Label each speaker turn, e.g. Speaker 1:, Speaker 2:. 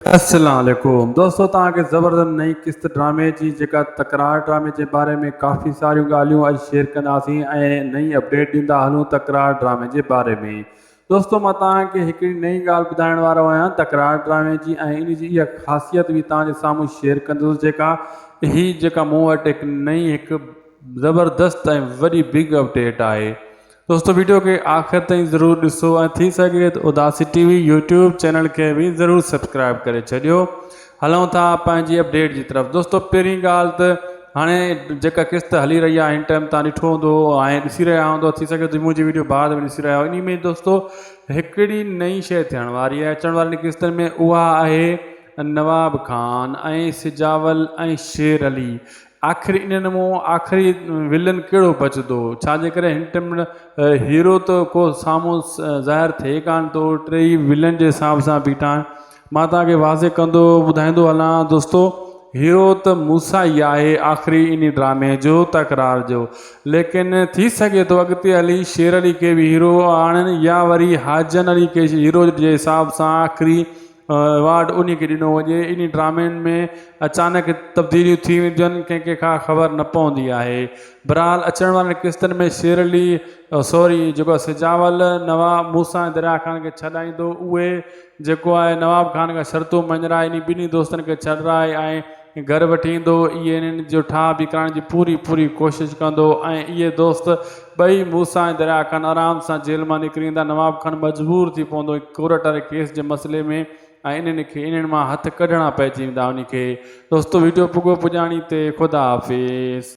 Speaker 1: السلام عليڪم دوستو توهان کي زبردست نئين قسط ڊرامي جي جيڪا تڪرار ڊرامي جي باري ۾ ڪافي ساريون ڳالهيون اڄ شيئر ڪنداسين ۽ نئين اپڊيٽ ڏيندا هلون تڪرار ڊرامي جي باري ۾ دوستو مان توهان کي هڪڙي نئين ڳالهه ٻڌائڻ وارو آهيان تڪرار ڊرامي جي ۽ ان جي اها خاصيت به توهان جي سامهون شيئر ڪندس جيڪا هي جيڪا مون وٽ هڪ نئين هڪ زبردست ۽ وڏي بگ اپڊيٽ آهي دوستو ويڊيو کي آخر تائين ضرور ڏسو ۽ ٿي سگهي ته اداسي ٽي وي يوٽيوب چينل کي به ضرور سبسڪرائب ڪري ڇڏيو هلون ٿا پنهنجي اپڊيٽ جي طرف دوستو پهرين ڳالهه ته هاڻي جيڪا قسط هلي رهي آهي هن ٽائم تان ڏٺو هوندو ۽ ڏسي رهيا هوندو ٿي سگهي ته منهنجي ويڊيو بعد ۾ ڏسي رهيا ان ۾ دوستو هڪڙي نئين شيء ٿيڻ واري آهي اچڻ وارين قسطن ۾ اها آهي نواب خان ۽ سجاول ۽ شير علي آخر انهن مان آخري ولن ڪهڙو بچدو؟ ڇا جي ڪري هن ٽمڙ هيرو ته ڪو سامهون ظاهر ٿئي ڪانه ٿو، ٽي ئي ولن جي حساب سان بيٺا آهن. مان توهان کي واضح ڪندو ٻڌائيندو هلان دوستو، هيرو ته موسيٰ ئي آهي آخري انهي ڊرامي جو، تڪرار جو. ليڪن ٿي سگهي ٿو اڳتي هلي شير علي کي به هيرو آڻن يا وري حاجن علي کي هيرو جي حساب سان آخري ايوارڊ انهي کي ڏنو وڃي، انهي ڊرامين ۾ اچانڪ تبديليون ٿي وينديون آهن ڪنهن کي ڪا خبر نه پوندي آهي. بھرحال اچڻ وارين قسطن ۾ شير علي سوري جيڪو سجاول نوا موسيٰ ۽ دريا خان کي ڇڏائيندو اهي جيڪو آهي نواب خان کان شرطون مڃرائي انهي ٻنهي دوستن کي ڇڏرائي ۽ گهر وٺي ايندو اهي انهن جو ٺاهه به ڪرائڻ جي پوري پوري ڪوشش ڪندو ۽ اهي دوست ٻئي موسيٰ ۽ دريا خان آرام سان جيل مان نڪري ايندا نواب خان مجبور ٿي پوندو ڪورٽ واري ڪيس جي مسئلي ۾ ۽ انهن کي انهن مان هٿ ڪڍڻا پئجي ويندا انهي کي دوستو ويڊيو پڳو پڄاڻي تي خدا حافظ.